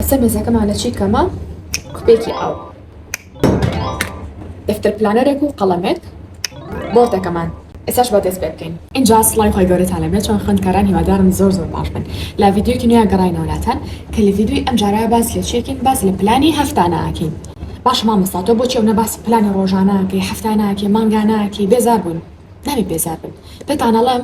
لەسەر مێزەکەمان لە چی کەمە کوپێکی ئاو دەفتەر پلانەرێک و قەڵەمێک بۆردەکەمان ئێساش بە دەست پێ بکەین ئینجا سڵای خۆی گەورەتان لەبێت چۆن خوێندکاران هیوادارم زۆر زۆر باش بن لە ڤیدیۆکی نوێ گەڕاینەوەلاتان کە لە ڤیدیۆی ئەم جارە باس لە چیەکەین باس لە پلانی هەفتانە ئەکەین باش مامۆستا تۆ بۆچی ئەونە باسی پلانی ڕۆژانە ئەکەی هەفتانە ئەکەی مانگانە ئەکەی بێزار بووین نابێ بێزار بن پێتانەڵێم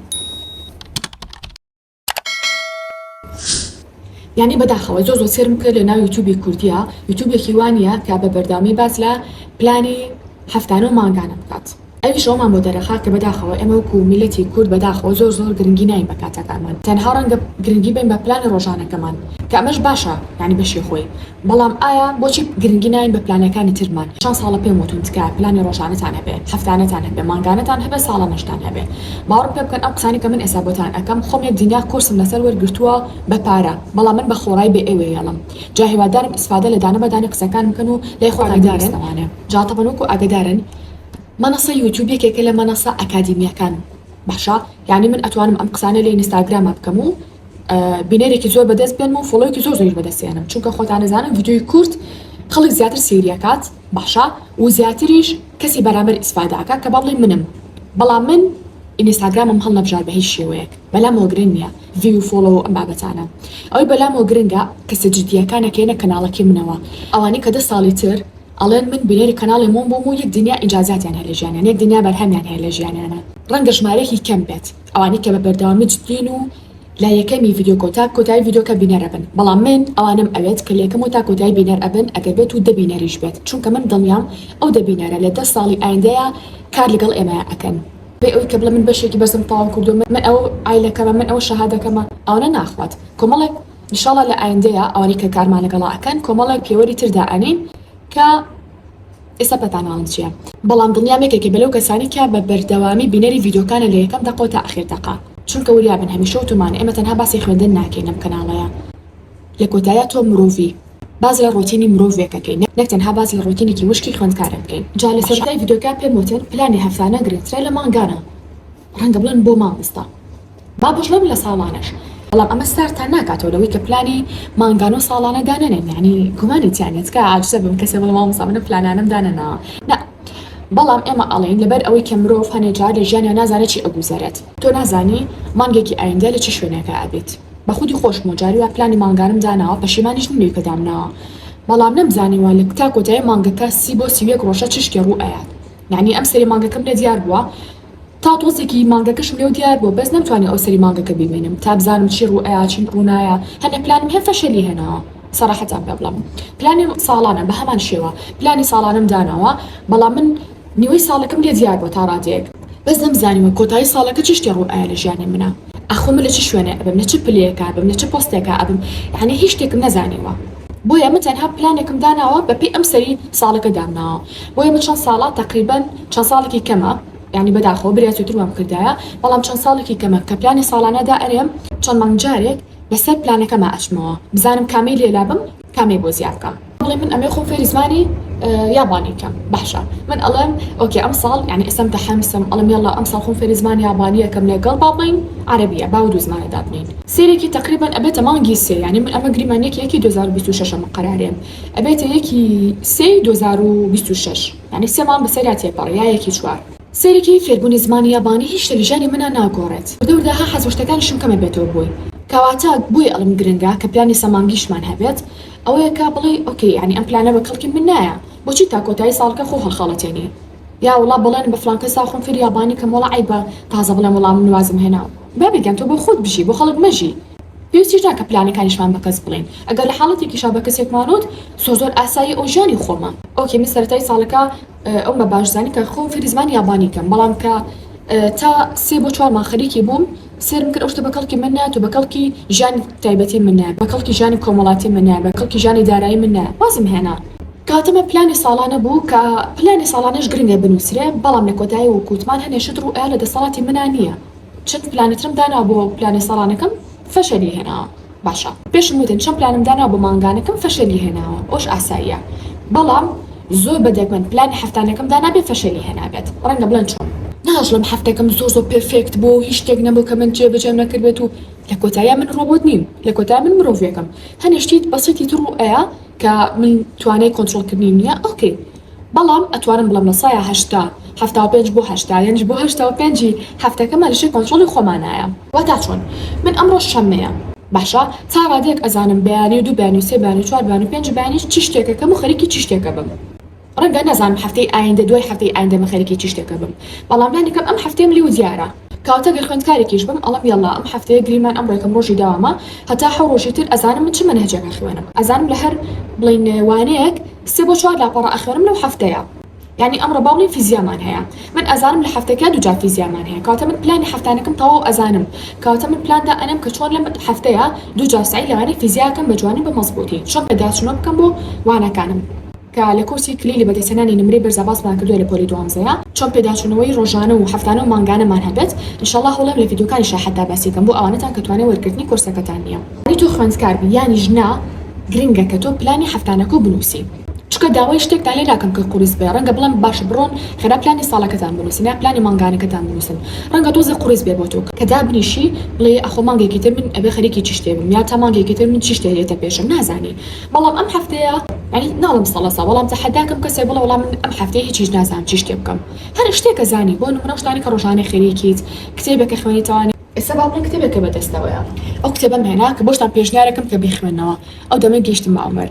یانی بەداخەوە زۆر زۆر سێرم بکە لە ناو یوتوبی کوردیا یوتوبێکی وانە کە بە بەردەوامی باس لە پلانی هەفتانە و مانگانە بکات ئەویش ئەومان بۆ دەرەخا کە بەداخەوە ئێمە وکو میلەتی کورد بەداخەوە زۆر زۆر گرنگی ناین بە کاتەکانمان تەنها ڕەنگە گرنگی بین بە پلانە ڕۆژانەکەمان کە ئەمەش باشە یانی بەشی خۆی بەڵام ئایا بۆچی گرنگی ناین بە پلانەکانی ترمان چەند ساڵە پێم وتون تکایە پلانی ڕۆژانەتان هەبێ هەفتانەتان هەبێ مانگانەتان هەبێ ساڵانەشتان هەبێ باوەڕم پێ بکەن ئەم قسانەی کە من ئێستا بۆتان ئەکەم خۆم یەک دنیا کۆرسم لەسەر وەرگرتووە بە پارە بەڵام من بە خۆڕای بێ ئێوەی هێڵم جا هیوادارم ئیسفادە لە دانە بە دانەی قسەکانم بکەن و لای خۆتان بیبیستنەوە جا تەبەن وەکو ئاگەدارن مەنەسەی یوتوب یەکێکە لە مەنەسە ئەکادیمیەکان باشە یانی من ئەتوانم ئەم قسانە لە ئینستاگرامە بکەم و بینەرێکی زۆر بەدەست بێنم و فۆڵۆیەکی زۆر زۆریش بەدەست هێنم چونکە خۆتان ئەزانن ڤیدیۆی کورت خەڵک زیاتر سەیری ئەکات باشە و زیاتریش کەسی بەرامبەر ئیسفادە ئەکات کە با بڵێین منم بەڵام من ئینستاگرامم هەڵنەبژارد بە هیچ شێوەیەک بەلامەوە گرنگ نییە ڤیو و فۆڵۆ و ئەم بابەتانە ئەوەی بەلامەوە گرنگە کەسە جددییەکانە کە یەنە کەناڵەکەی منەوە ئەوانەی کە دە ساڵی تر ئەڵێن من بینەری کەناڵی مۆم بووم و یەک دنیا ئینجازاتیان هەیە لە ژیانیان یەک دنیا بەرهەمیان هەیە لە ژیانیانە ڕەنگە ژمارەیەکی کەم بێت. ئەوانەی کە بە بەردەوامی جدین و لە یەکەمی ڤیدۆکۆ تا کۆتایی ڤیدۆکە بینەر ئەبن بەڵام من ئەوانەم ئەوێت کە لەیەکەمەوە تا کۆتایی بینەر ئەبن ئەگەر بێت و دە بینەریش بێت چونکە من دڵنیام ئەو دە بینەرە لە دە ساڵی ئایندەیا کار لەگەڵ ئێمەیا ئەکەن بێ ئەوی کە بڵێ من بەشێکی بەسم تەواو کردوە من ئەوە عایلەکەمە من ئەوە شەهادەکەمە ئەوانە ناخوات کۆمەڵێک ان شاء اللە لە ئایندەیا ئەوانەی کە کارمان لەگەڵا ئەکەن کۆمەڵێک پێوەری تر دائەنێین کە. ئێستا پێتاناوم چیە بەڵام دڵنیام یەکێکە بەلەو کەسانی کە بە بەردەوامی بینەری ڤیدیۆکانە لە یەکەم دەقەوە تا ئەخیر دەقە چونکە وریابن هەمیشە وتومانە ئێمە تەنها باسی خوێندن ناکەین لەم کەناڵەیا لە کۆتاییا تۆ مرۆڤی باس لە ڕۆتینی مرۆڤێک ئەکەین نەک تەنها باس لە ڕۆتینێکی وشکی خوێندکارێک بکەین جا لە سەرەتای ڤیدیۆکە پێم وتن پلانی هەفتانە گرنگترە لە مانگانە ڕەنگە بڵێن بۆ مامۆستا. با بژیم لە ساڵانەش بەڵام ئەمە ساردتان ناکاتەوە لەوەی کە پلانی مانگانە و ساڵانە دانەنێن یانی گومانی تیانە تکایە عاجزە بم کەسێ بڵێ مامۆستا منە پلانانەم دانەناوە نا بەڵام ئێمە ئەڵێین لەبەر ئەوەی کە مرۆڤ هەنێ جار لە ژیانیا نازانێ چی ئەگوزەرێت تۆ نازانی مانگێکی ئایندە لە چ شوێنێکا ئەبیت بە خودی خۆشمەوە جاری وا پلانی مانگانەم داناوە پەشیمانیش نیم لەوی کە دامناوە بەڵام نەمزانیوە لە تا کۆتایی مانگەکە سی بۆ سی و یەک ڕۆژە چ شتێ ڕوو ئەیات یانی ئەمسەری مانگەکەم لە دیار بووە تا تۆزێکی مانگەکەشم لێو دیار بوو بەس نەمتوانی ئەو سەری مانگەکە بیبینم تا بزانم چی ڕوو ئەیا چی ڕوو نایا هەندێک پلانم هەم فەشەلی هێناوە سەڕەحەتان پێ بڵێم پلانی ساڵانە بە هەمان شێوە پلانی ساڵانەم داناوە بەڵام من نیوەی ساڵەکەم لێ دیار بوو تا ڕادەیەک بەس نەمزانیوە کۆتایی ساڵەکە چ شتێ ڕوو ئەیا لە ژیانی منا ئاخۆ من لە چ شوێنێ ئەبم لە چ پلەیەکا ئەبم لە چ پۆستێکا ئەبم یانی هیچ شتێکم نەزانیوە. بۆیە من تەنها پلانێکم داناوە بەپێی ئەم سەری ساڵەکە دامناوە بۆیە من چەند ساڵە تەقریبەن چەند ساڵێکی کەمە یانی بەداخەوە بریا زوتر وام کردایە بەڵام چەند ساڵێکی کەمە کە پلانی ساڵانە دا ئەنێم چەند مانگ جارێک لەسەر پلانەکەما ئەچمەوە بزانم کامەی لێ لابەم کامەی بۆ زیا بکەم. بڵێ من ئەمێ خۆم فێری زمانی یابانی کەم باشە من ئەڵێم ئۆکێ ئەم ساڵ یانی ئێستا متەحەمسم ئەڵێم یەڵا ئەم ساڵ خۆم فێری زمانی یابانیە کەم لەگەڵ با بڵێین عەرەبیە با و دوو زمانە دابنێین. سێرێکی تەقریبەن ئەبێتە مانگی سێ یانی من ئەمە گریمانیەکی یەکی دوو هەزار و بیست و شەش ئەمە قەرارێم ئەبێتە یەکی سێی دوو هەزار و بیست و شەش یانی سێ مانگ بەسەریا تێپەڕی یا یەکی چوار. سێرێکی فێربونی زمانی یابانی هیچ شتە لە ژیانی منا ناگۆڕێت وردە وردە ها حەز وشتەکانیشم کەمە بێتەوە بۆی کەواتە بۆیە ئەڵێم گرنگە کە پلانی سە مانگیشمان هەبێت ئەوەیە کە بڵێی ئۆکەی یانی ئەم پلانە بە کەڵکی من نایە بۆچی تا کۆتایی ساڵکە خۆ هەڵخەڵەتێنی یا وڵا بەڵێنم بە فلان کەسا خۆم فێری یابانی کەم وەڵا عەیبە تازە بڵێم وڵا من وازم هێنا بابی گیان تۆ بۆ خۆت بژی بۆ خەڵک مەژی. پێویستیش نا کە پلانەکانیشمان بە کەس بڵێین ئەگەر لە حاڵەتێکیشا بە کەسێکمان وت زۆر زۆر ئاساییە ئەو ژیانی خۆمە. ئۆکەی من سەرەتای ساڵەکە ئەوم بە باش زانی کە خۆم فێری زمانی یابانی کەم بەڵام کە تا سێ بۆ چوار مانگ خەریکی بووم سێرم بکەن ئەو شتە بە کەڵکی من نایەت و بە کەڵکی ژیانی تایبەتی من نایەت، بە کەڵکی ژیانی کۆمەڵاتی من نایەت، بە کەڵکی ژیانی دارایی من نایەت، وازم هێنا. کاتەمە پلانی ساڵانە بوو کە پلانی ساڵانەش گرنگە بنووسرێ، بەڵام لە کۆتایی وەک وتمان هەنێ شت ڕوو ئەیا لە دەسەڵاتی منا نییە، چەند پلانیترم داناوە بۆ پلانێ ساڵانەکەم فەشەلی هێناوە. باشە پێشم وتت چەند پلانم داناوە بۆ مانگانەکەم فەشەلی هێناوە ئەوەش ئاساییە بەڵام زۆر بە دەگمەن پلانی هەفتانەکەم دانابێ فەشەلی هێنابێت ڕەنگە بڵێن چۆن؟ ناجڵم هەفتەکەم زۆر زۆر پێرفێکت بووە و هیچ شتێک نەبوو کە من جێبەجێم نەکردبێت و لە کۆتاییا من ڕۆبۆت نیم لە کۆتاییا من مرۆڤێکم هەنێ شتی بەسیتی تڕوو ئەیە کە من توانای کۆنترۆڵکردنیم نییە ئۆکەی بەڵام ئەتوانم بڵێم لە سەیا هەشتا حەفتا و پێنج بۆ هەشتا یەنج بۆ هەشتا و پێنج ی هەفتەکەمان لە ژێر کۆنترۆڵی خۆمانایە. واتا چۆن؟ من ئەمڕۆ شەممەیە باشە تا ڕادەیەک ئەزانم بەیانی و دوو بەیانی و سێ بەیانی و چوار بەیانی و پێنج بەیانی چ شتێکەکەم و خەریکی چ شتێکە بم ڕەنگە نەزانم هەفتەی ئایندە دوای هەفتەی ئایندە من خەریکی چ شتێکە بم بەڵام لانیکەم ئەم هەفتەیەم لێو دیارە کەواتە گەر خوێندکارێکیش بم ئەڵێم یەڵا ئەم هەفتەیە گریمان ئەمڕۆ یەکەم ڕۆژی داوامە هەتا حەو ڕۆژی تر ئەزانم من چ مەنهەجێکە خوێنم ئەزانم لە هەر بڵێین وانەیەک سێ بۆ چوار لاپەڕە ئەخوێنم لەو هەفتەیە یانی ئەمڕۆ باوڵی فیزیامان هەیە من ئەزانم لە هەفتەکە دووجار فیزیامان هەیە کەواتە من پلانی هەفتانەکەم تەواو ئەزانم کەواتە من پلان دا ئەنێم کە چۆن لەم هەفتەیە دووجار سەعی لە وانەی فیزیا ئەکەم بە جوانی و بە مەزبووتی چۆن پێداچوونەوە بکەم بۆ وانەکانم کە لە کۆرسی کلیلی بەدەستهێنانی نمرەی بەرزا باسمان کردووە لە پۆلی دوانزەیە چۆن پێداچوونەوەی ڕۆژانە و هەفتانە و مانگانەمان هەبێت انشااللە هەوڵێم لە ڤیدیۆکانی شاحەتدا باسی کەم بۆ ئەوانەتان کە توانای وەرگرتنی کۆرسەکەتان نییە. ئەی تۆ خوێندکار بی یانیش نا گرنگە کە تۆ پلانی هەفتانەکەو بنوسی چونکە داوای شتێکتان لێ ناکەم کە قوڕیس بێ ڕەنگە بڵێم باشە بڕۆن خێرا پلانی ساڵەکەتان بنوسن یان پلانی مانگانەکەتان بنوسن ڕەنگە تۆزێ قوڕیس بێ بۆ تۆ کە دابنیشی بڵێی ئەخۆ مانگێکی تر من ئەبێ خەریکی چی شتێ بم یان تا مانگێکی تر من چی شتێ دێتە پێشم نازانی بەڵام ئەم هەفتەیە یانی ناڵێم سەڵە ساڵ بەڵام تەحەداکەم کەسێ بڵێ وەڵا من ئەم هەفتەیە هیچیش نازانم چی شتێ بکەم هەر شتێ کە زانی بۆ نمونە ئەو شتانەی کە ڕۆژانە خەریکیت کتێبێ کە خوێنیتەوە ئێستا باپیرم کتێبێکە بەدەستەوەیە ئەو کتێبەم هێنا کە بۆشتان پێشنیارەکەم کە بیخوێنەوە ئەو دەمەی گەیشتم بە ئەومەر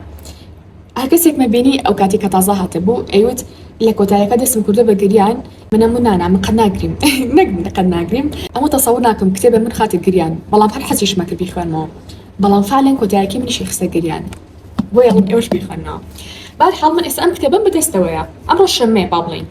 هەر کەسێک مەبینی ئەو کاتی کە تازە هاتبوو ئەیوت لە کۆتایەکە دەستم کردوە بە گریان من ئەموو نانا من قەت ناگریم نەک من قەت ناگریم ئەموو تەسەور ناکەم کتێبە من خاتە گریان بەڵام هەر حەزیشمە کە بیخوێنمەوە بەڵام فعلەن کۆتایەکەی منیشی خستە گریان بۆیە ئەڵێم ئێوەش بیخوێنەوە بەهەر حاڵ من ئێستا ئەم کتێبەم بەدەستەوەیە ئەمڕۆ شەممەیە با بڵێین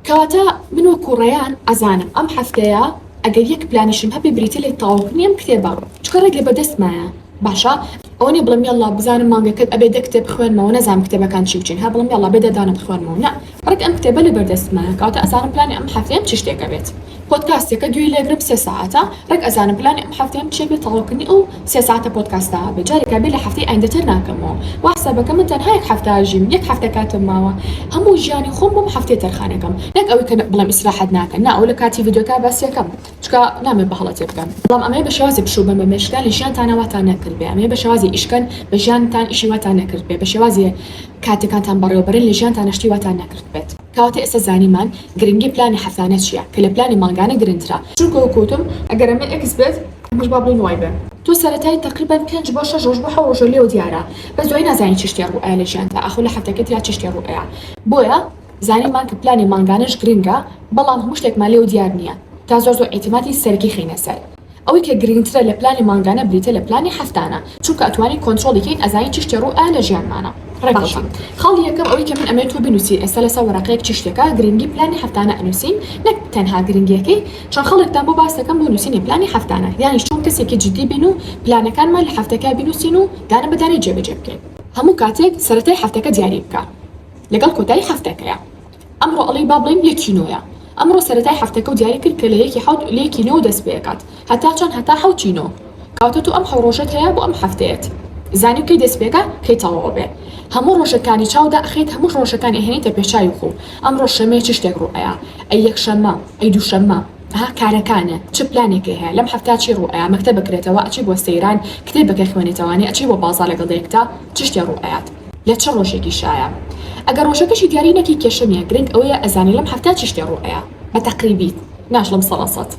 کەواتە من وەکو ڕەیان ئەزانم ئەم هەفتەیە ئەگەر یەک پلانیشم هەبێ بریتیە لە تەواوکردنی ئەم کتێبە چونکە ڕێک لە بەدەستمایە باشە ئەوە نیە بڵێم یەڵڵا بزانم مانگەکەت ئەبێ دە کتێب بخوێنمەوە نەزانم کتێبەکان چی بچین هەر بڵێم یەڵڵا بێ دەردانە بخوێنمەوە نە ڕێک ئەم کتێبە لە بەردەستمایە کەواتە ئەزانم پلانی ئەم هەفتەیەم چ شتێک ئەبێت پۆدکاستەکە گوێی لێگرم سێ سەعاتە ڕێک ئەزانم پلانی ئەم حەفتەیەم چیە بێ تەواوکردنی ئەو سێ سەعاتە پۆدکاستە بێ جارێکا بێ لە حەفتەی ئایندە تێر ناکەمەوە وا حسابەکە من تەنها یەک حەفتە ئەژیم یەک حەفتە کاتم ماوە هەموو ژیانی خۆم بەم حەفتەیە تەرخانەکەم نەک ئەوەی کە بڵێم ئیسراحەت ناکەن نا ئەوە لە کاتی ڤیدیۆکە باسی ئەکەم چونکە نامەوێ بە هەڵە تێ بگەن بەڵام ئەمەیە بە شێوازێ پشوو بەن بە مێشکتان لە ژیانتانا واتان نەکردبێ ئەمەیە بە شێوازێ ئیش کەن بە ژیانتان ئیشی واتان نەکردبێ بە شێوازێ کاتەکانتان بەڕێوە بەرن لە ژیانتانا شتی واتان نەکردبێت. کەواتە ئێستا زانیمان گرنگی پلانی حەفتانە چیە کە لە پلانی مانگانە گرنترە. چونکە وەک وتم ئەگەر ئەمە ئێکس بێت ئەمەش با بڵێین وای بێ. تۆ سەرەتای تەقریبەن پێنج بۆ شەش ڕۆژ بۆ حەو ڕۆژە لێوە دیارە بەس دوای نازانی چی شتێ ڕوو ئەیا لە ژیانتا ئاخۆ لە حەفتەکەی ترا چی شتێ ڕوو ئەیا بۆیە زانیمان کە پلانی مانگانەش گرنگە بەڵام هەموو شتێکمان لێوە دیار نیە تا زۆر زۆر ئیتیماتی سەرکی خەینە سەر ئەوەی کە گرنگترە لە پلانی مانگانە بریتە لە پلانی هەفتانە چونکە ئەتوانین کۆنترۆڵی کەین ئەزانین چی شتێ ڕوو ئەیا لە ژیانمانە باشە ڕێکەوتین. خاڵی یەکەم ئەوەی کە من ئەمەوێ تۆ بنوسی ئێستا لەسەر وەرەقەیەک چی شتێکە گرنگی پلانی هەفتانە ئەنوسین نەک تەنها گرنگیەکەی چەند خەڵکتان بۆ باس دەکەم بۆ نوسینی پلانی هەفتانە یانیش چۆن کەسێکی جدی بین و پلانەکانمان لە هەفتەکە بنوسین و دانە بە دانەی جێ بەجێ بکەین. هەموو کاتێک سەرەتای هەفتەکە دیاری بکە لەگەڵ کۆتایی هەفتەکەیا ئەمڕۆ ئەڵێی با بڵێین یەکی نۆیە ئەمڕۆ سەرەتای حەفتەکەو دیاری کرد کە لە یەکی حەوت لە یەکی نۆ دەست پێ ئەکات هەتا چەند هەتا حەوتی نۆ کەواتە تۆ ئەم حەو ڕۆژەت هەیە بۆ ئەم حەفتەیەت زانی کەی دەست پێکا کەی تەواو ئەبێ هەموو ڕۆژەکانی چاو دا ئەخەیت هەموو ڕۆژەکانی ئەهێنیتە پێ چاوی خوو ئەمڕۆ شەمەیە چ شتێک ڕوو ئەیا ئەی یەکشەمە ئەی دووشەمە ها کارەکانێ چ پلانێکێ هەیە لەم هەفتە چی ڕوو ئەیا مەکتەب بکرێتەوە ئەچی بۆ سەیران کتێبەکە خوێنێتەوانی ئەچی بۆ بازا لەگەڵ دایکتا چ شتێ ڕوو ئەیات لە چ ڕۆژێکی شایە ئەگەر ڕۆژەکەشی دیاری نەکەی کێشە نیە گرنگ ئەوەیە ئەزانی لەم هەفتە چ شتێ ڕوو ئەیا بە تەقریبی ناشڵم سەدا سەد.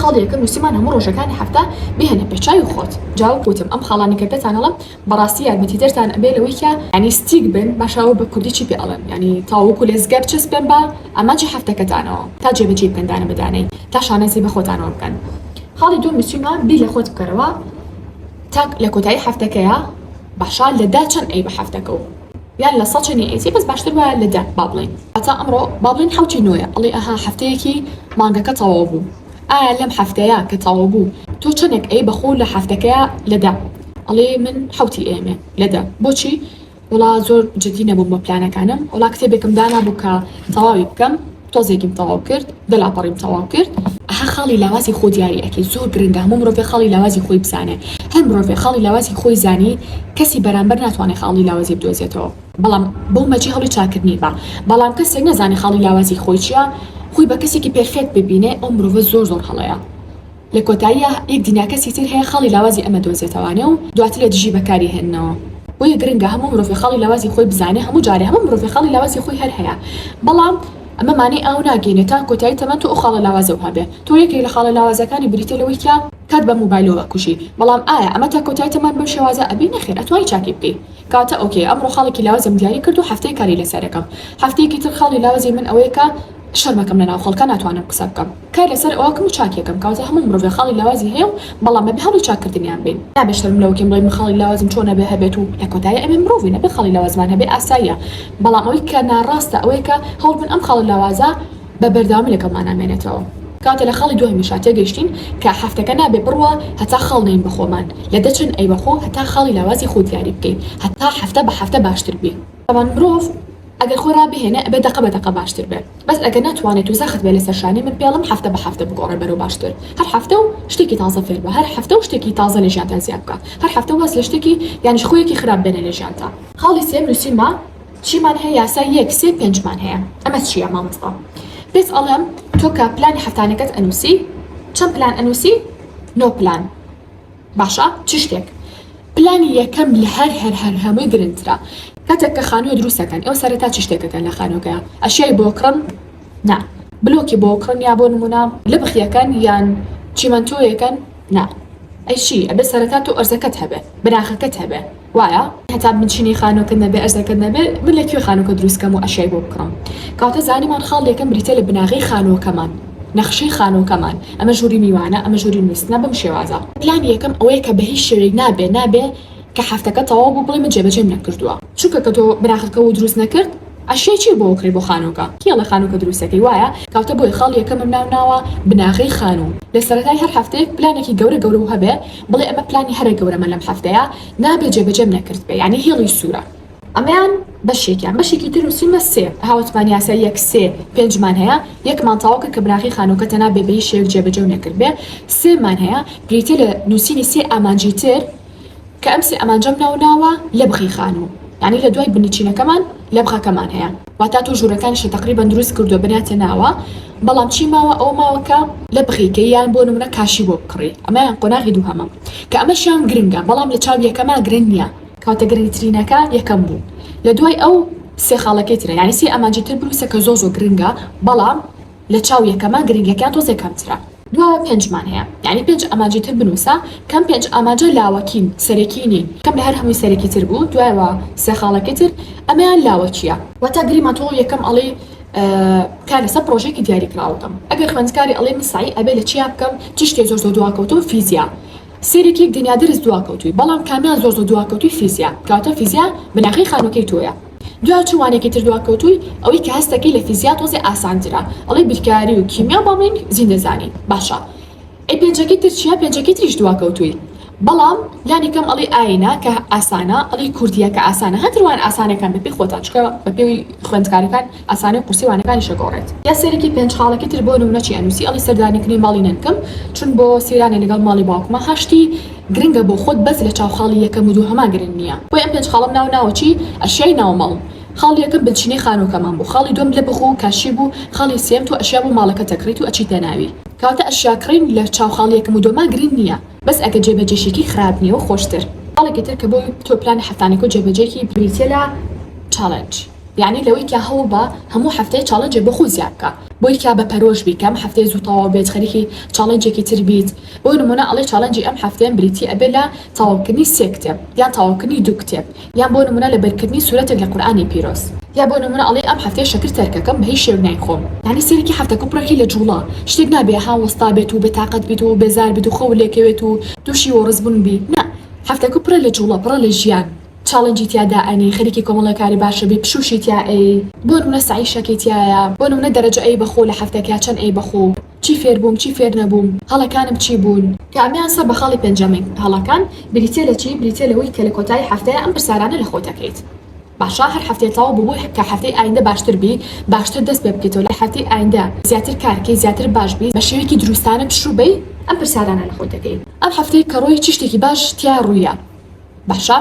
خاڵیەکە نوسیمان هەموو ڕۆژەکانی هەفتە بهێنە پێش چاوی خۆت جا وەک وتم ئەم خاڵانە کە پێتان ئەڵێم بەڕاستی یارمەتی دەرتان ئەبێ لەوەی کە یانی ستیک بن باشە ئەوە بە کوردی چی پێ ئەڵێن یانی تاو وەکو لێزگە بچەسپێن بە ئامانجی حەفتەکەتانەوە تا جێ بەجێی بکەن دانە بە دانەی تا شانازی بە خۆتانەوە بکەن خاڵی دووەم بچیمە بیر لە خۆت بکەرەوە تا لە کۆتایی حەفتەکەیە باشە لە دە چەن ئەی بە حەفتەکە و یان لە سەد چەنی ئەیتی بەس باشتر وایە لە دە با بڵێین هەتا ئەمڕۆ با بڵێین حەوت و نۆیە ئەڵێی ئەها حەفتەیەکی مانگەکە تەواو بوو ئایا لەم حەفتەیە کە تەواو بوو تۆ چەنێک ئەی بە خۆو لە حەفتەکەیا لە دە ئەڵێی من حەوتی ئەیەمێ لە دە بۆچی وەڵا زۆر جدی نەبووم بە پلانەکانم وەڵا کتێبێکم دانابوو کە تەواوی بکەم تۆزێکیم تەواو کرد دە لاپەڕیم تەواو کرد. ئەها خاڵی لاوازی خۆ دیاری ئەکەی زۆر گرنگە هەموو مرۆڤێک خاڵی لاوازی خۆی بزانێ هەر مرۆڤێک خاڵی لاوازی خۆی زانی کەسی بەرامبەر ناتوانێ خاڵی لاوازی بدۆزێتەوە. بەڵام بەو مەرجی هەوڵی چاکردنی با بەڵام کەسێک نەزانێ خاڵی لاوازی خۆی چیە خۆی بە کەسێکی پێرفێکت ببینێ ئەو مرۆڤە زۆر زۆر هەڵەیە لە کۆتاییا یەک دینا کەسی تر هەیە خاڵی لاوازی ئەمە دۆزێتەوانێ و دواتر لە دژی بەکاری هێننەوە بۆیە گرنگە هەموو مرۆڤێ خاڵی لاوازی خۆی بزانێ هەموو جارێ هەموو مرۆڤێ خاڵی لاوازی خۆی هەر هەیە بەڵام ئەمە مانای ئاو ناگەینێ تا کۆتایی تەمەن تۆ ئەو خاڵە لاوازەو هەبێ تۆ یەکێک لە خاڵە لاوازەکانی بریتیە لەوەی کە کات بە موبایلۆ ئەکوژی بەڵام ئایا ئەمە تا کۆتایی تەمەن بەم شێوازە ئەبی نەخێر ئەتوانی چاکی بکەی. کاتە ئۆکێ ئەمڕۆ خاڵێکی لاوزم دیاری کرد و هەفتەیە کاری لەسەر ئەکەم هەفتەیەکی تر خاڵی لاوزی من ئەوەیە کە شەرم ئەکەم لە ناو خەڵکا ناتوانم قسە بکەم کار لەسەر ئەوەکم و چاکی ئەکەم کەواتە هەموو مرۆڤێ خاڵی لاوازی هەیە و بەڵام ئەبێ هەوڵی چاک کردنیان بەین نابێ شەرم لەوە کەین بڵێین من خاڵی لاوازم چۆن ئەبێ هەبێت و لە کۆتایی ئەبێ مرۆڤین ئەبێ خاڵی لاوازمان هەبێ ئاساییە بەڵام ئەوەی کە ناڕاستە ئەوەیە کە هەوڵ بن ئەم خاڵە لاوازە بە بەردەوامی لەگەڵمانا مێنێتەوە کاتێ لە خاڵی دوهەمیشا تێگەیشتین کە هەفتەکە نابێ بڕوا هەتا خاڵ نەین بە خۆمان لە دەچن ئەی بە خۆ هەتا خاڵی لاوازی خۆ دیاری بکەی هەتا هەفتە بە هەفتە باشتر بی. تابان مرۆڤ ئەگەر خۆی ڕابهێنێ ئەبێ دەقە بە دەقە باشتر بێ بەس ئەگەر ناتوانێت و زەخت بێ لەسەر شانی من پێڵم هەفتە بە هەفتە بگۆڕێ بەرەو باشتر هەر هەفتە و شتێکی تازە فێر بە هەر هەفتە و شتێکی تازە لە ژیانتا زیاد بکە هەر هەفتە واز لە شتێکی یانیش خویەکی خراپ بێنە لە ژیانتا. خاڵی سێم نوسیومە. چیمان هەیە یاسا یەک سێ پێنج مان هەیە ئەمە چیە مامۆستا پێت ئەڵێم تۆ کە پلانی هەفتانەکەت ئەنووسی چەند پلان ئەنووسی نۆ پلان باشە چ شتێک پلانی یەکەم لە هەر هەر هەر هەمووی گرنگترە کاتێک کە خانووە دروستەکەن ئەو سەرەتا چ شتێکەکەن لە خانووەکەیان ئەشیای بۆکڕن نا بلۆکی بۆ کڕن یا بۆ نمونە لبخیەکەن یان چیمەنتۆیەکەن نا ئەی چی ئەبێ سەرەتا تۆ ئەرزەکەت هەبێ بناخەکەت هەبێ وایە هەتا بنچینەی خانوەکەت نەبێ ئەرزەکەت نەبێ من لە کوێ خانوەکە دروست کەم و ئەشیای بۆ بکڕم کەواتە زانیمان خاڵ یەکەم بریتیە لە بناغەی خانوەکەمان نەخشەی خانوەکەمان ئەمە ژووری میوانە ئەمە ژووری نوستنە بەم شێوازە پلانی یەکەم ئەوەیە کە بە هیچ شێوەیەک نابێ نابێ کە حەفتەکە تەواو بوو بڵێ من جێبەجێم نەکردووە چونکە کە تۆ بناخەکە و دروست نەکرد ئەشیای چی بۆ کڕی بۆ خانوکە؟ کێ ڵێ خانوکە دروستەکەی وایە کاکە بۆیە خاڵ یەکەمم ناو ناوە بناغەی خانوو لە سەرەتای هەر هەفتەیەک پلانێکی گەورە گەورە و هەبێ بڵێ ئەمە پلانی هەرە گەورەمە لەم هەفتەیە نابێ جێبەجێم نەکردبێ یانی هێڵی سوورە ئەمەیان بەشێکیان بەشێکی تر و سیمە سێ هاوتمان یاسای یەک سێ پێنج مان هەیە یەکمان تەواو کرد کە بناغەی خانووکە تەنها بێ بەهیچ شێوەیەک جێبەجێ و نەکردبێ سێ مان هەیە بریتیە لە نووسینی سێ ئامانجی تر کە ئەم سێ ئامانجەم ناو ناوە لەبخی خانوو یانی لە دوای بنچینەکەمان لەبخەکەمان هەیە واتا تۆ ژوورەکانیشت تەقریبەن دروست کردووە بنیاتە ناوە بەڵام چی ماوە ئەوە ماوە کە لەبخی کەی یان بۆ نمونە کاشی بۆ بکڕی ئەمەیان قۆناغی دووهەمە کە ئەمەشیان گرنگە بەڵام لە چاو یەکەما گرنگ نییە کەواتە گرنگترینەکە یەکەم بوو لە دوای ئەو سێ خاڵەکەی ترە یانی سێ ئامانجی تر بنووسە کە زۆر زۆر گرنگە بەڵام لە چاو یەکەمە گرنگیەکەیان تۆزێ کەمترە. دوا پێنجمان هەیە یانی پێنج ئامانجی تر بنوسە کەم پێنج ئاماجە لاوەکین سەرەکی نین کەم لە هەر هەمووی سەرەکی تر بوو دوایەوە سێ خاڵەکەی تر ئەمەیان لاوەکیە. واتا گریما تۆ یەکەم ئەڵێی کار لەسەر پڕۆژەیەکی دیاری کراوە بکەم ئەگەر خوێندکاری ئەڵێ من سەعی ئەبێ لە چیا بکەم چ شتێ زۆر زۆر دواکەوتووم فیزیا سەیرێکی یەک دنیا درس دواکەوتووی بەڵام کامیان زۆر زۆر دواکەوتووی فیزیا کەواتە فیزیا بناخەی خانووەکەی تۆیە دوا چ وانەیەکی تر دواکەوتووی ئەوەی کە هەست دەکەی لە فیزیا تۆزێ ئاسانترە ئەڵێی بیرکاری و کیمیا بەڵام ڕینگ زیندە زانی باشە ئەی پێنجەکەی تر چیە پێنجەکەی تریش دواکەوتووی بەڵام لانی کەم ئەڵێی ئاینە کە ئاسانە ئەڵێی کوردیە کە ئاسانە هەر وان ئاسانەکان بە پێی خۆتان چکە بە پێی خوێندکارەکان ئاسانی و قورسی وانەکانیش ئەگۆڕێت. یا سەرەکی پێنج خاڵەکی تر بۆ نمونە چی ئەنووسی ئەڵێی سەردانیکردنی ماڵی نەنکم چون بۆ سەیرانێ لەگەڵ ماڵی باوکمە هەشتی. گرنگە بۆ خۆت بەس لە چاو خاڵی یەکەم و دووهەما گرنگ نیە بۆی ئەم پێنج خاڵەم ناو ناوە چی ئەشیای ناو ماڵ خاڵی یەکەم بنچینەی خانوەکەمان بوو خاڵی دووەم لە بخ و کاشی بوو خاڵی سێیەم تۆ ئەشیا بۆ ماڵەکەت ئەکڕیت و ئەچیتە ناوی کەواتە ئەشیا کڕین لە چاو خاڵی یەکەم و دووەما گرنگ نیە بەس ئەگەر جێ بەجێشیکەی خراپ نیە و خۆشتر. خاڵێکی تر کە بۆ تۆ پلانە هەفتانەکە و جێ بەجێکی بریتیە لە چاڵێنج. یانی لەوەی کە هەوڵ بە هەموو هەفتەیە چاڵێنجێک بۆ خۆت زیاد بکە بۆی کە بە پەرۆش بی کە ئەم هەفتەیە زوو تەواو بێت خەریکی چاڵێنجێکی تر بیت بۆ نمونە ئەڵێ چاڵێنجی ئەم هەفتەیەم بریتی ئەبێ لە تەواو کردنی سێ کتێب یان تەواو کردنی دوو کتێب یان بۆ نمونە لە بەر کردنی سورەتێک لە قورئانی پیرۆز یا بۆ نمونە ئەڵێ ئەم هەفتەیە شەکر تەرکەکەم بە هیچ شێوەک نایخۆم. یانی سەرەکی هەفتەکە پڕەکەی لە جوڵە شتێک نابێ ها وەستا بێت و بێ تاقەت بیت و بێزار بیت و خەوت لێکەوێت و توشی وەڕز بون بی نا هەفتەکە پڕە لە جوڵە پڕە لە ژیان. چاڵنجی تیا دائەنێی خەریکی کۆمەڵێ کاری باشە بی پشووشی تیا ئەیەی بۆ نمونە سەعی شەکی تیایە بۆ نمونە دەرەجە ئەیەی بەخۆو لە حەفتەکیا چەن ئەیەی بەخۆو چی فێر بووم چی فێر نەبووم هەڵەکانم چی بوون کە ئەمەیان سەر بە خاڵی پێنجەمین هەڵەکان بریتیە لە چی بریتیە لەوەی کە لە کۆتایی حەفتەیا ئەم پرسارانە لە خۆت ئەکەیت باشە هەر حەفتەیەک تەواو بوو بۆی کە حەفتەی ئایندە باشتر بی باشتر دەست پێ بکەیتەوە لە حەفتەی ئایندە زیاتر کار کەی زیاتر باش بی بە شێوەیەکی دروستانە پشوو بەی ئەم پرسارانە لە خۆت ئەکەی ئەم حەفتەی کە ڕۆی چی شتێکی باش تیا ڕوویە. باشە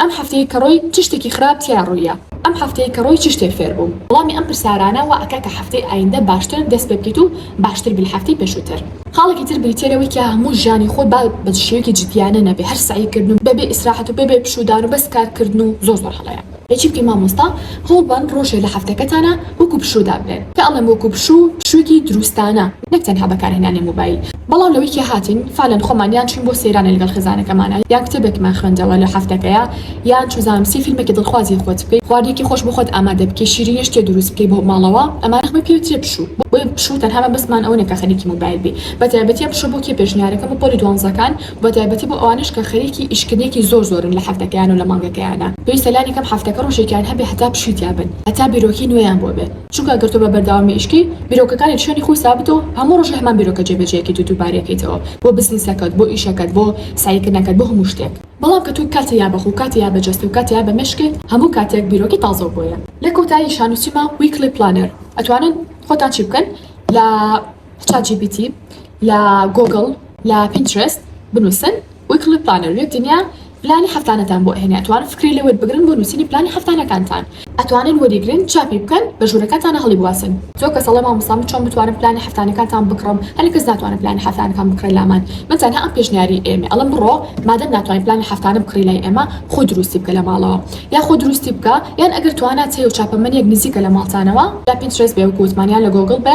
ئەم هەفتەی کە ڕۆی چ شتێکی خراپ تیا ڕویە؟ ئەم هەفتەی کە ڕۆی چ شتێک فێر بوم؟ وڵامی ئەم پرسارانە وا ئەکا کە هەفتەی ئایندە باشتر دەست پێ بکەیت و باشتر بی لە هەفتەی پێشوتر. خاڵێکی تر بریتیە لەوەی کە هەموو ژیانی خۆت با بە شێوەیەکی جدیانە نەبێ هەر سەعی کردن و بە بێ ئیسراحەت و بە بێ پشوودان و بەس کار کردن و زۆر زۆر هەڵەیە. چی بکەین مامۆستا هەوڵبەن ڕۆژێ لە هەفتەکەتانا وەکو پشوو دابنێن. کە ئەڵێم وەکو پشوو پشووێکی دروستانە نەک تەنها بەکارهێنانی موبایل بەڵام لە ویکیە هاتین فالەن خۆمان یان چووین بۆ سەیرانێ لەگەڵ خێزانەکەمانا یان کتێبێکمان خوێندەوە لە هەفتەکەیا یان چوزانم سی فیلمێکی دڵخوازی خۆت بکەی خواردنێکی خۆش بۆ خۆت ئامادە بکەی شیرینی شتێ دروست بکەی بۆ ماڵەوە ئەمانە هەمووی پێوترێ پشوو بۆیە پشوو تەنها مەبەستمان ئەوە نیە کە خەریکی موبایل بی بەتایبەتیە پشوو بۆ کێ پێشنیارەکەم بۆ پۆلی دوانزەکان بەتایبەتی بۆ ئەوانەش کە خەریکی ئیشکردنێکی زۆر زۆرن لە هەفتەکەیان و لە مانگەکەیانە پێویستە لانی کەم هەفتەکە ڕۆژێکیان هەبێ هەتا پشیتیا بن هەتا بیرۆکەی نوێیان بۆ بێ چونکە گەر تۆ بە بەردەوامی ئیشکەی بیرۆکەکانت شوێنی خۆی سابتە و هەموو ڕۆژێ هەمان بیرۆکە جێ بەجێکەیت و دووبارەیکەیتەوە بۆ بزنسەکەت بۆ ئیشەکەت بۆ سەعیکردنەکەت بۆ هەموو شتێک بەڵام کە تۆ کاتێ یا بە خۆو کاتێ یا بە جەستەو کاتێ یا بە مێشکت هەموو کاتێک بیرۆکەی تازەو بۆیە. لە کۆتایی شانوسیمە Weekly Planner ئەتوانن خۆتان چی بکەن لە. چات جی پی تی لە گۆگڵ لە پینترست بنووسن ویکلی پلانەر یەک دنیا پلانی هەفتانەتان بۆ ئەهێنێ ئەتوانن فکری لێ وەربگرن بۆ نووسینی پلانی هەفتانەکانتان ئەتوانن وەریگرن چاپی بکەن بە ژوورەکانتانا هەڵیبواسن زۆر کەس ئەڵێ مامۆستا من چۆن بتوانم پلانی هەفتانەکانتان بکڕم هەلی کەس ناتوانێ پلانی هەفتانەکان بکڕێ لامان من تەنها ئەم پێشنیاری ئێمەیە ئەڵێم بڕۆ مادەم ناتوانی پلانی هەفتانە بکڕی لای ئێمە خۆ دروستی بکە لە ماڵەوە یا خۆ دروستی بکە یان ئەگەر توانات هەیە و چاپەمەنیەک نزیکە لە ماڵتانەوە یا پینترست بێ وەکو وتمان یان لە گۆگڵ بێ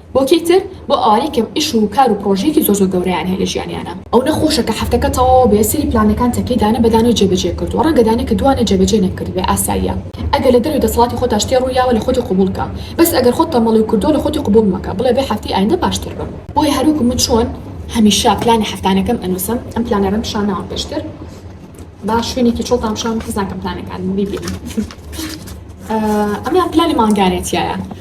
بۆکی تر بۆ ئەوانەی کە ئیش و کار و پرۆژەیەکی زۆر زۆر گەورەیان هەیە لە ژیانیانا. ئەو نەخۆشە کە حەفتەکە تەواو بێ سەری پلانەکان تەکێ دانە بە دانەوە جێ بەجێ کردووە ڕەنگە دانە کە دوانە جێ بەجێ نەکردبێ ئاساییە ئەگەر لە دەرەوەی دەسەڵاتی خۆتا شتێ ڕوو یاوە لە خۆتی قبوڵ کە بەس ئەگەر خۆت تەمبەڵی و کردوە لە خۆتی قبوڵ مەکە بڵێ بێ حەفتەی ئایندە باشتر بم. بۆیە هەر وەکو من چۆن هەمیشە پلانی حەفتانەکەم ئەنوسم ئەم پلانەرم پیشان ناوە پێشتر با شوێنێکی چۆڵتان پیشان بم حەز ناکەم پلانەکانم بیبینن ئەمەیان پلانی مانگانێتیایە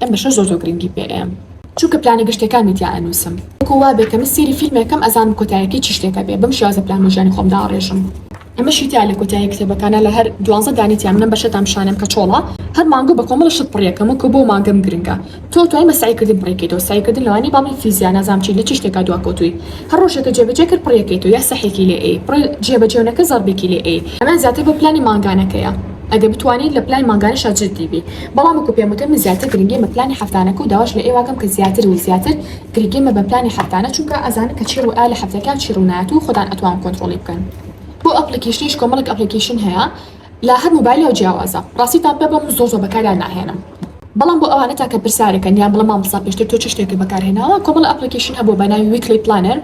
ئەم بەشە زۆر زۆر گرنگی پێ ئەیەم چونکە پلانە گشتیەکانمی تیا ئەنوسم وەکو وابێ کە من سێری فیلمێ کەم ئەزانم کۆتایەکەی چ شتێک ئەبێ بەم شێوازە پلان بۆ ژیانی خۆم داڕێژم. ئەمەشی تیا لە کۆتایی کتێبەکانە لە هەر دوانزە دانەی تیا من ئەم بەشەتان پیشانەم کە چۆڵە هەر مانگۆ بە کۆمەڵە شت پڕیەکەم وەکو بۆ مانگەم گرنگە تۆ توای بە سەعی کردن پڕیکەیتەوە سەعی کردن لەوانیە باڵی فیزیا نازام چی لە چ شتێکا دوا کەوتوی هەر ڕۆژێکە جێ بەجێ کرد پڕیەکەیتەوە یا سەحێکی لێ ئەی پڕێ جێ بەجێ نەکە زەڕبێکی لێ ئەی ئەمە زیاتر بۆ پلانی مانگانەکەیە. ئەگەر بتوانی لە پلانی مانگانەشا جدی بی بەڵام وەکو پێم وتن من زیاتر گرنگیم بە پلانی هەفتانەکە و داواش لە ئێوە ئەکەم کە زیاتر و زیاتر گرگیم مەبەن پلانی هەفتانە چونکە ئەزانن کە چی ڕوئا لە هەفتەکە و چی ڕونایەت و خۆتان ئەتوان کۆنتڕۆڵی بکەن بۆ ئەپڵیکیشنیش کۆمەڵێک ئەپڵیکیشن هەیە لە هەر موبایلەوە جیاوازە ڕاستیتان پێ بڵێم من زۆر زۆر بەکاریان ناهێنم بەڵام بۆ ئەوانە تاکە پرسارێکە نیان بڵێ مامۆستا پێشتر تۆ چ شتێکت بەکارهێناوە کۆمەڵە ئەپڵیکیشن هەبوە بە ناوی ویکلی پلانەر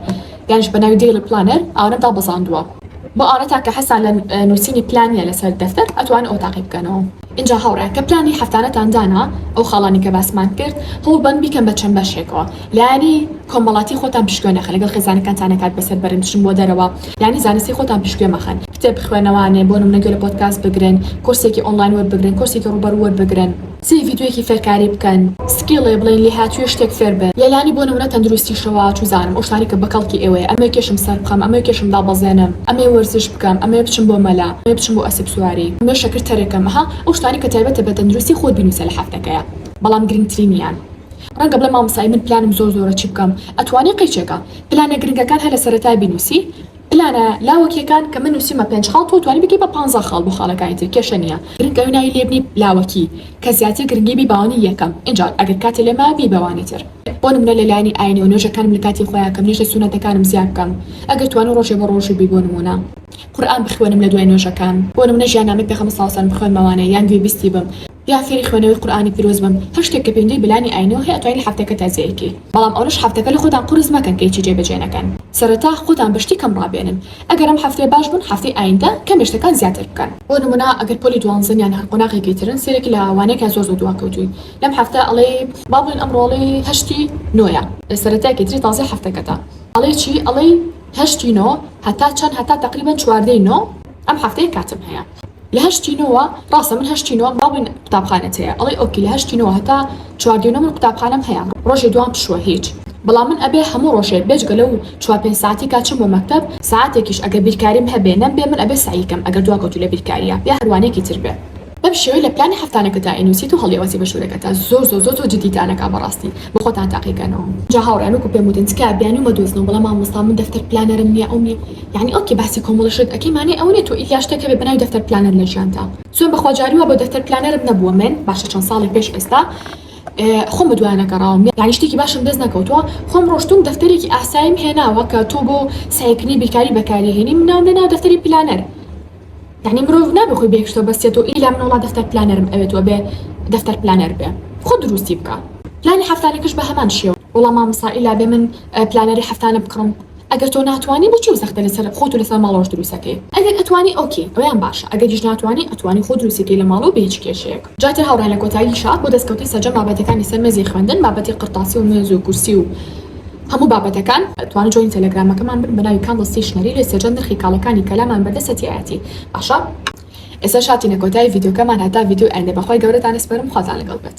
گەنج بە ناوی Daily Planner ئاورەم دابەزاندووە بۆ ئاورەتان کە حەزتان لە نووسینی پلان نیە لەسەر دەفتەر ئەتوانن ئەوە تاقی بکەنەوە ئینجا هاوڕێیان کە پلانی هەفتانەتان دانا ئەو خاڵانەی کە باسمان کرد هەوڵ بەن بیکەن بە چەند بەشێکەوە لایەنی کۆمەڵاتی خۆتان پشتگوێ نەخەن لەگەڵ خێزانەکانتان نەکات بەسەر بەرن بچن بۆ دەرەوە لایەنی زانستی خۆتان پشتگوێ مەخەن کتێب بخوێنەوانێ بۆ نمونە گوێ لە پۆدکاست بگرن کۆرسێکی ئۆنڵاین وەربگرن کۆرسێکی ڕووبەڕوو وەربگرن. سی ڤیدیۆیەکی فێرکاری بکەن سکیڵێ بڵێن لێهاتوویە شتێک فێر بێت لەلانی بۆ نمونە تەندروستیشەوە چوزانم ئەوشتانەی کە بەکەڵکی ئێوەیە ئەمەوێ کێشم سەربخەم ئەمەوێ کێشم دابەزێنم ئەمەوێ وەرزش بکەم ئەمەوێ بچم بۆ مەلا ئەمەوێ بچم بۆ ئەسپ سواری ئەمەوێ شەکر تەرکەم ئەها ئەو شتانەی کە تایبەتە بە تەندروستی خۆت بینوسە لە هەفتەکەیا بەڵام گرنگترینیان ڕەنگە بڵێ مامۆستا ئەی من پلانم زۆر زۆرە چی بکەم ئەتوانی قەیچێکە پلانە گرنگەکان هەر لە سەرەتای بینوسی پلانە لاوەکیەکان کە من نوسیومە پێنج خاڵ تۆ توانی بگەی بە پانزا خاڵ بۆ خاڵەکانی تر کێشە نیە گرنگ ئەوەی ناوی لێ بنی لاوەکی کە زیاتر گرنگی بی باوانی یەکەم ئینجا ئەگەر کاتت لێ مایە بی بەوانی تر بۆ نمونە لە لایەنی ئاینەوە نوێژەکانم لە کاتی خۆیا کەم نوێژە سونەتەکانم زیاد بکەم ئەگەر توانی ڕۆژێ بە ڕۆژو بی بۆ نمونە قورئان بخوێنم لە دوای نوێژەکان بۆ نمونە ژیان نامەی پێخەمبەر ساڵسەلەم بخوێنمەوانێ یان گوێ بیستی بم یا فێری خوێنەوەی قورئانی پیرۆز بم هەر شتێک کە پێنجەی بلانی ئاینەوە هەیە ئەتوانی لە هەفتەکەتا جێی کەی بەڵام ئەونەش هەفتەکە لە خۆتان قورس مەکەن کە هیچی جێ بەجێ نەکەن سەرەتا خۆتان بە شتی کەم ڕابێنن ئەگەر ئەم هەفتەیە باش بوون هەفتەی ئایندە کەمێ شتەکان زیاتر بکەن بۆ نمونە ئەگەر پۆلی دوانزەن یان هەر قۆناغێکی ترن سەیرێک لە وانەیەکە زۆر زۆر دواکەوتووی لەم هەفتە ئەڵێی با بڵێن ئەمڕۆ ئەڵێی هەشتی نۆیە سەرەتایەکی تری تازەی هەفتەکەتە ئەڵێی چی ئەڵێی هەشتی نۆ هەتا چەند هەتا تەقریبەن چواردەی نۆ ئەم هەفتەیە کاتم هەیە. لە هەشتی نۆوە ڕاستە من هەشتی نۆم بەڵام من قوتابخانەت هەیە ئەڵێ ئۆکی لە هەشتی نۆوە هەتا چواردی نۆ من قوتابخانەم هەیە ڕۆژێ دوام پشووە هیچ بەڵام من ئەبێ هەموو ڕۆژێ بێجگە لەو چوار پێنج ساعەتی کا چووم بۆ مەکتەب ساعەتێکیش ئەگەر بیرکاریم هەبێ نەمبێ من ئەبێ سەعی کەم ئەگەر دواکەوتوو لە بیرکارییە یا هەروانەیەکی تر بێ بەم شێوەی لە پلانی هەفتانەکەتا ئەینووسیت و هەڵیئەوەسی بە ژوورەکەتا زۆر زۆر زۆر زۆر جدیتان ئەکا بەڕاستی بۆ خۆتان تاقیکەنەوە. جا هاوڕێیان وەکو پێم وتن تکایە بیانوو مەدۆزنەوە بەڵام مامۆستا من دەفتەر پلانەرم نییە ئەو نییە یانی ئۆکەی باسی کۆمەڵەشت ئەکەی مانای ئەوە نیە تۆ ئیلیا شتێک هەبێ بەناوی دەفتەر پلانەر لە ژیانتا سوێن بە خوا جاری وا بۆ دەفتەر پلانەرم نەبووە من باشە چەند ساڵێک پێش ئێستا خۆم بە دوایانە گەڕاوم یانی شتێکی باشم دەست نەکەوتووە خۆم ڕۆشتووم دەفتەرێکی ئاساییم هێناوە کە تۆ بۆ سەعیکردنی بیرکاری بەکاری ئەهێنی من ناوم لێناوە دەفتەری پلانەر یانی مرۆڤ نابێ خۆی بەیەکشتەوە بەستێتەوە ئیلا من وەڵا دەفتەر پلانەرم ئەوێت وەبێ دەفتەر پلانەر بێ خۆ دروستی بکە پلانی هەفتانەکەش بە هەمان شێوە وەڵا مامۆستا ئیلا بێ من پلانەری هەفتانە بکڕم ئەگەر تۆ ناتوانی بۆچی ئەو زەختە لەسەر خۆت و لەسەر ماڵەوەش دروست ئەکەی؟ ئەگەر ئەتوانی ئۆکەی ئەوەیان باشە ئەگەریش ناتوانی ئەتوانی خۆت دروستی کەی لە ماڵەوە بە هیچ کێشەیەک. جاتێ هاوڕێیان لە کۆتاییشا بۆ دەستکەوتی سەرجەم بابەتەکانی سەر مێزی خوێندن بابەتی قرتاسی و مێز و کورسی و هەموو بابەتەکان. توانن جۆینی تێلێگرامەکەمان بن بە ناوی کاندڵ ستەیشنەری لێ سەرجەم نرخی کاڵەکانی کەلامان بەردە سەتیایەتی باشە. ئێستاش هاتینە کۆتایی ڤیدیۆکەمان هەتا ڤیدیۆی ئایندە بەخوای گەورەتان ئەسپەرم خواتان لەگەڵ بێت.